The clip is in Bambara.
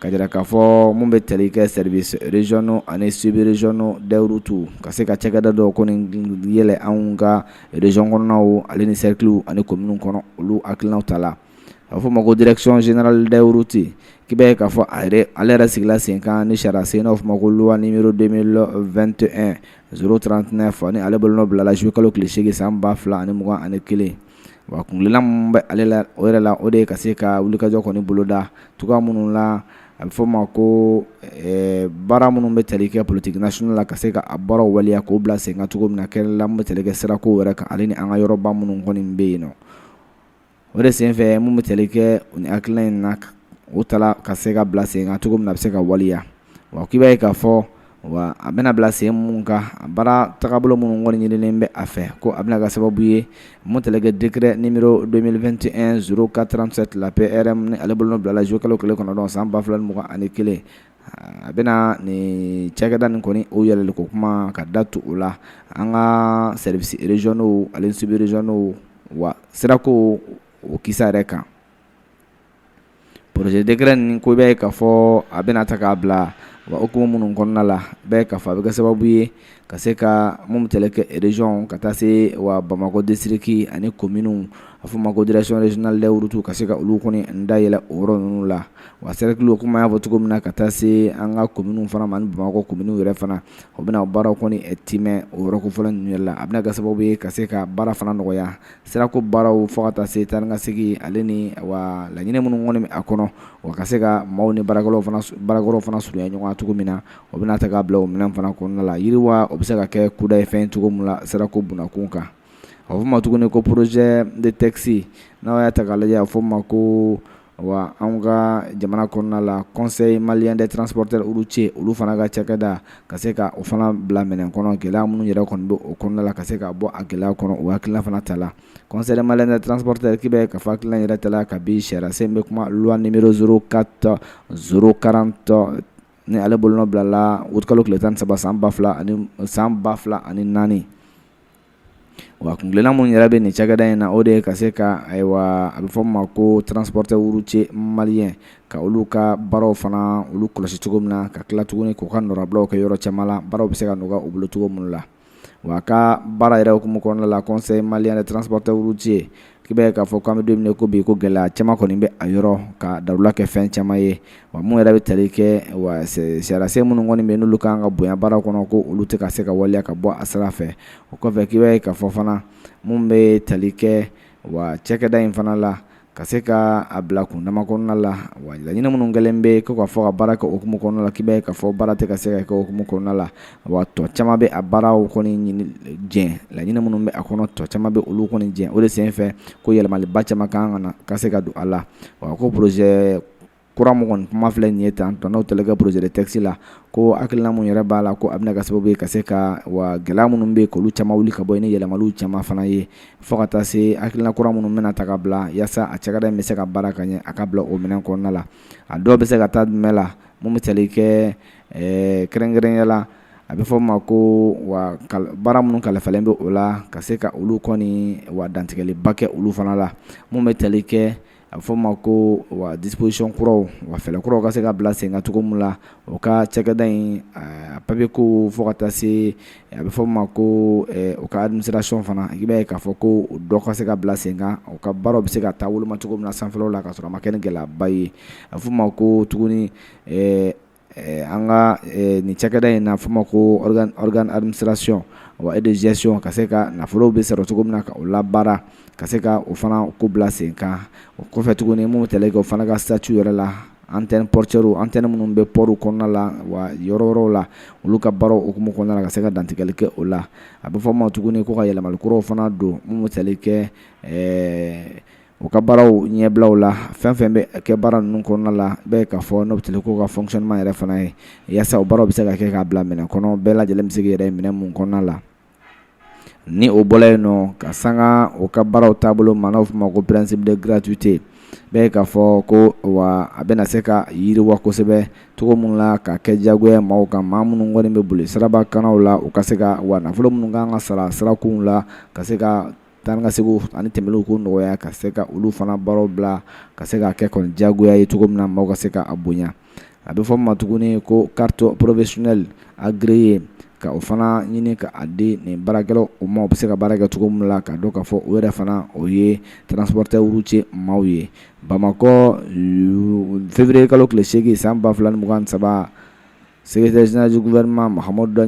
k'a jira k'a fɔ minnu bɛ tali kɛ services régionaux ani sub régionaux des routes ka se ka cakɛda dɔ kɔni yɛlɛ anw ka région kɔnɔnaw ale ni cercles ani communes kɔnɔ olu hakilinaw ta la a bɛ fɔ o ma ko direction générale des routes k'i b'a ye k'a fɔ ale yɛrɛ sigila senkan ni sariya sen n'o bɛ fɔ o ma ko loi numéro 2021 039 ni ale bolo nɔ bilala juillet kalo tile seegin san 2021 wa kuntilenna min bɛ ale la o yɛrɛ la o de ye ka se ka wulikajɔ kɔni boloda cogoya minnu la a bɛ f'o ma ko baara minnu bɛ tali kɛ politique nationale la ka se ka a baaraw waleya k'o bila sen kan cogo min na kɛ la minnu bɛ tali kɛ sirako yɛrɛ kan ale ni an ka yɔrɔba minnu kɔni bɛ yen nɔn o de senfɛ minnu bɛ tali kɛ u ni hakilina o ta ka se k'a bila sen kan cogo min na a bɛ se ka waleya wa k'i b'a ye k'a fɔ wa a bɛna bila sen minnu kan a baara tagabolo minnu kɔni ɲinilen bɛ a fɛ ko a bɛna kɛ sababu ye min bɛ tali kɛ décret numéro 2021 0437 la PRM ni ale bolo nɔ bilala juillet kalo tile kɔnɔntɔn san ba fila ni mugan ani kelen a bɛna nin cakɛda nin kɔni o yɛlɛli ko kuma ka da tu o la an ka services régionaux ale ni sub régionaux wa sirako o kisa yɛrɛ kan projet décret nin ko bɛ k'a fɔ a bɛna ta k'a bila wa o ko minnu kɔnɔna la bɛ k'a fɔ a bɛ kɛ sababu ye ka se ka minnu bɛ tali kɛ région ka taa se wa bamakɔ district ani communes a fɔ ma ko direction régionale des routes ka se ka olu kɔni da yɛlɛ o yɔrɔ ninnu la wa cercles komi a y'a fɔ cogo min na ka taa se an ka communes fana ma bamakɔ communes yɛrɛ fana o bɛna baara kɔni tiimɛ o yɔrɔ kofɔlen ninnu yɛrɛ la a bɛna kɛ sababu ye ka se ka baara fana nɔgɔya Sirako baaraw fo ka taa se taa ni ka segin ale ni wa laɲini minnu kɔni bɛ a kɔnɔ wa ka se ka maaw ni baarakɛyɔrɔw fana surunya ɲɔgɔn na cogo min na o bɛna ta k'a bila o minɛn fana kɔnɔna la yiriwa o bɛ se ka kɛ kudayi fɛn cogo min la sirako bunda kunkan a fɔ ma tuguni ko projet de texte n'a y'a ta k'a lajɛ a fɔ ma ko wa an ka jamana kɔnɔna la conseil malien des transporteurs routiers olu fana ka cakɛda ka se ka o fana bila minɛn kɔnɔ gɛlɛya minnu yɛrɛ kɔni bɛ o kɔnɔna la ka se ka bɔ a gɛlɛya kɔnɔ o hakilina fana ta la conseil malien des transporteurs k'i b'a ye k'a fɔ hakilina yɛrɛ ta la kabini sariya sen bɛ kuma loi numéro 04 040 ni ale bolo nɔ bilala août kalo tile tan saba san ba fila ani san ba fila ani naani Wa kuntilenna minnu yɛrɛ bɛ nin cakɛda in na o de ye ka se ka ayiwa a bɛ fɔ ma ko transporteurs routiers maliens ka olu ka baaraw fana olu kɔlɔsi cogo min na ka tila tuguni k'u ka nɔnabila kɛ yɔrɔ caman la baara bɛ se ka nɔgɔya u bolo cogo minnu la wa ka baara yɛrɛ ko min kɔnɔna la conseil malien des transporteurs routiers I b'a ye k'a fɔ k'an bɛ don min na i ko bi ko gɛlɛya caman kɔni bɛ a yɔrɔ ka dawula kɛ fɛn caman ye wa mun yɛrɛ bɛ tali kɛ wa sariyasen minnu kɔni bɛ yen n'olu ka kan ka bonya baara kɔnɔ ko olu tɛ ka se ka waleya ka bɔ a sira fɛ o kɔfɛ k'i b'a ye k'a fɔ fana mun bɛ tali kɛ wa cakɛda in fana la ka se ka a bila kundama kɔnɔna la wa laɲini minnu kɛlen bɛ ko ka fɔ ka baara kɛ o hukumu kɔnɔna la k'i b'a ye k'a fɔ baara tɛ ka se ka kɛ o hukumu kɔnɔna la wa tɔ caman bɛ a baaraw kɔni jɛ laɲini minnu bɛ a kɔnɔ tɔ caman bɛ olu kɔni jɛ o de sen fɛ ko yɛlɛmaliba caman ka kan ka se ka don a la wa ko projet kura min kuma filɛ nin ye tan n'o tali kɛ projet de texte la ko hakilina minnu yɛrɛ b'a la ko a bɛna kɛ sababu ye ka se ka wa gɛlɛya minnu bɛ olu caman wuli ka bɔ yen ni yɛlɛmaliw caman fana ye fo ka taa se hakilina kura minnu bɛna ta ka bila yaasa a cakɛda in bɛ se ka baara k'a ɲɛ a ka bila o minɛn kɔnɔna la a dɔ bɛ se ka taa jumɛn la mun bɛ tali kɛ ɛɛ kɛrɛnkɛrɛnya la a bɛ fɔ' ma ko wa baara minnu kalifalen bɛ o la ka se ka olu kɔni wa dantigɛliba kɛ olu fana la minnu bɛ tali kɛ a bɛ fɔ' ma ko wa disposition kuraw wa fɛɛrɛ kuraw ka se ka bila sen kan cogo min la o ka cakɛda in papier ko fo ka taa se a bɛ fɔ' ma ko u ka administration fana i b'a ye k'a fɔ ko dɔ ka se ka bila sen kan u ka baara bɛ se ka taa wolo ma cogo min na sanfɛ la ka sɔrɔ a ma kɛ gɛlɛyaba ye a bɛ fɔ' ma ko tuguni An ka nin cakɛda in n'a fɔ ma ko organe d'administration wa et de gestion ka se ka nafolo bɛ sɔrɔ cogo min na ka o labaara ka se ka o fana ko bila sen kan o kɔfɛ tuguni minnu bɛ tali kɛ o fana ka statut yɛrɛ la antenne portuairew antenne minnu bɛ pɔri kɔnɔna la wa yɔrɔ yɔrɔ la olu ka baaraw o hukumu kɔnɔna na ka se ka dantigɛli kɛ o la a bɛ fɔ ma tuguni ko ka yɛlɛmali kuraw fana don minnu bɛ tali kɛ U ka baaraw ɲɛbilaw la fɛn fɛn bɛ kɛ baara ninnu kɔnɔna la i b'a ye k'a fɔ n'o tali kɛ u ka fonctionnement yɛrɛ fana ye yaasa baara bɛ se ka kɛ k'a bila minɛ kɔnɔ bɛɛ lajɛlen bɛ se k'i yɛrɛ minɛ minnu kɔnɔna la ni o bɔra yen nɔ ka sanga u ka baaraw taabolo ma n'a fɔ ma ko principe de gratuité i b'a ye k'a fɔ ko wa a bɛna se ka yiriwa kosɛbɛ cogo min la ka kɛ jagoya maaw kan maa minnu kɔni bɛ boli siraba kanw la u ka se ka wa nafolo minnu kan ka sara sirakunw la ka se ka Taa ni ka seginw ani tɛmɛliw ko nɔgɔya ka se ka olu fana baaraw bila ka se ka kɛ kɔni diyagoya ye cogo min na maaw ka se k'a bonya a bɛ fɔ ma tuguni ko carte professionnelle agréée ka o fana ɲini ka a di nin baarakɛlaw ma u bɛ se ka baara kɛ cogo min la ka dɔn k'a fɔ u yɛrɛ fana o ye transporteur routier maaw ye Bamakɔ février kalo tile segin san ba fila ni mugan ni saba secrétaire général du gouvernement Mahamadu Da